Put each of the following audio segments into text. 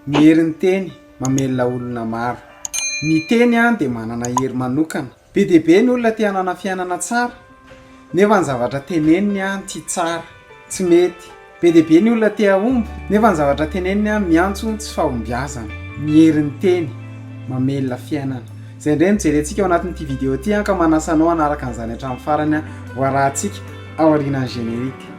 Ny herin'ny teny, mamelona olona maro. Ny teny dia manana hery manokana. Be dia be ny olona te hanana fiainana tsara, nefa ny zavatra teneniny tsy tsara, tsy mety. Be dia be ny olona te hahomby, nefa ny zavatra teneniny miantso tsy fahombiazana. Ny herin'ny teny, mamelona fiainana. Izay indray no jerentsika ao anatin'ity video ity, ka manasa anao hanaraka an'izany hatramin'ny farany, ho arahantsika aorianan'ny générique.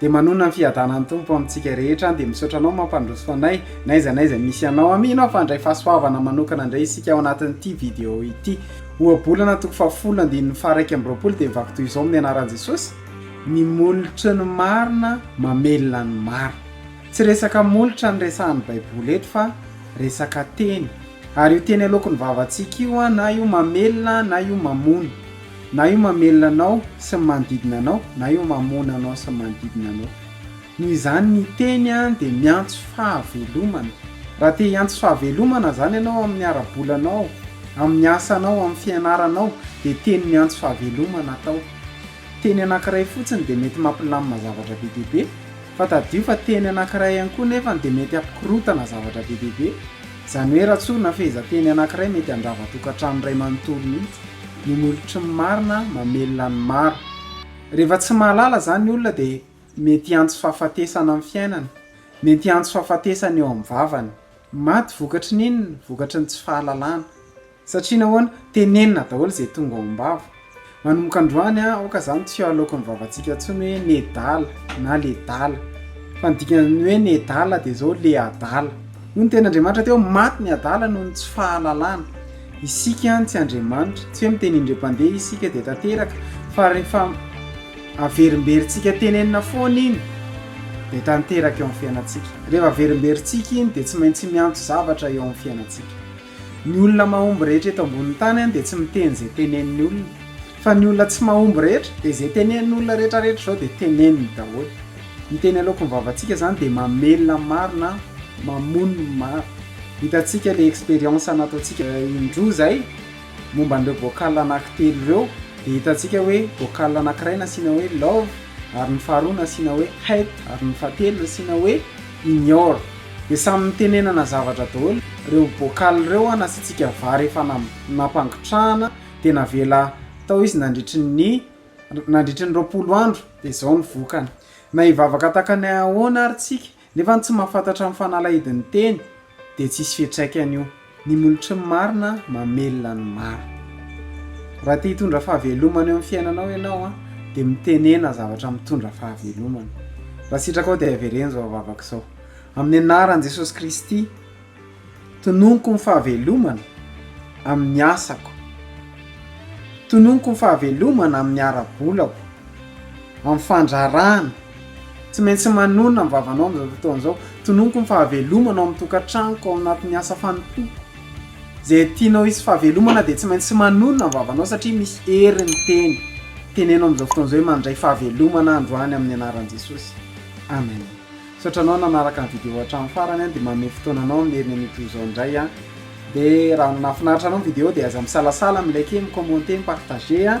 Dia manonona ny fiadanan'ny Tompo amintsika rehetra aho dia misaotra anao mampandroso anay n'aiza n'aiza misy anao amin aho fa handray fahasoavana manokana indray isika ao anatin'ity video ity ohabolana toko fahafolo andininy faharaika amby roapolo dia mivako toy izao amin'ny anaran'i Jesosy ny molotry ny marina mamelona ny maro tsy resaka molotra ny resahan'ny baiboly eto fa resaka teny ary io teny aloaky ny vavantsika io an na io mamelona na io mamono Na io mamelona anao sy ny manodidina anao, na io mamono anao sy ny manodidina anao. Noho izany, ny teny dia miantso fahavelomana. Raha te hiantso fahavelomana izany ianao amin'ny ara-bolanao, amin'ny asanao, amin'ny fianaranao, dia teny miantso fahavelomana atao. Teny anankiray fotsiny dia mety mampilamina zavatra be dia be, fa tadidio fa teny anankiray ihany koa nefany dia mety hampikorontana zavatra be dia be. Izany hoe raha tsorina ny fehezanteny anankiray mety handrava tokantrano iray manontolo mihitsy, ny nolotry ny marina mamelona ny maro. Rehefa tsy mahalala izany ny olona dia mety hiantso fahafatesana amin'ny fiainany, mety hiantso fahafatesana eo amin'ny vavany. Maty vokatry ny inona? Vokatry ny tsy fahalalana. Satria nahoana? Tenenina daholo izay tonga ao am-bava. Manomboka androany, aoka izany tsy halaoko ny vavantsika intsony hoe nedala na ledala. Fa ny dikan'ny hoe nedala dia izao, le adala. Hoy ny tenin'Andriamanitra teo, maty ny adala noho ny tsy fahalalana. Isika tsy andriamanitra. Tsy hoe miteny indriam-pandeha isika dia tanteraka, fa rehefa averimberintsika tenenina foana iny, dia tanteraka eo amin'ny fiainantsika. Rehefa averimberintsika iny, dia tsy maintsy miantso zavatra eo amin'ny fiainantsika. Ny olona mahomby rehetra eto ambonin'ny tany dia tsy miteny izay tenenin'ny olona. Fa ny olona tsy mahomby rehetra dia izay tenenin'ny olona rehetra rehetra izao dia teneniny daholo. Ny teny aloako ny vavantsika izany dia mamelona ny maro na mamono ny maro. Hitantsika ilay expérience nataontsika indroa izay momba an'ireo vocal anankitelo ireo dia hitantsika hoe vocal anankiray nasiana hoe love ary ny faharoa nasiana hoe hate ary ny fahatelo nasiana hoe ignore de samy mitenenana zavatra daholo reo bocal reo a nasiantsika vary efa nampangotrahana de navela tao izy nandritry ny nandritry ny roapolo andro de zao ny vokany na hivavaka takany ahoana ary tsika nefa tsy mahafantatra ny fanalahidiny teny de tsisy fiatraikany io Ny molotry ny marina mamelona ny maro. Raha te hitondra fahavelomana eo amin'ny fiainanao ianao a, dia mitenena zavatra mitondra fahavelomana. Raha sitrakao dia avereno izao vavaka izao. Amin'ny anaran'i Jesosy Kristy, tononiko ny fahavelomana amin'ny asako. Tononiko ny fahavelomana amin'ny ara-bolako, amin'ny fandrarahana. Tsy maintsy manonona ny vavanao amin'izao fotoana izao. Tononiko ny fahavelomana ao amin'ny tokantranoko, ao anatin'ny asa fanompoako. Izay tianao hisy fahavelomana dia tsy maintsy manonona ny vavanao satria misy hery ny teny. Teneno amin'izao fotoana izao hoe mandray fahavelomana aho androany amin'ny anaran'i Jesosy. Amen. Misaotra anao nanaraka ny video hatramin'ny farany an, dia manome fotoana anao amin'ny heriny anio toy izao indray aho. Dia raha nahafinaritra anao ny video dia aza misalasala mi-liker, mi-commenter, mi-partager an.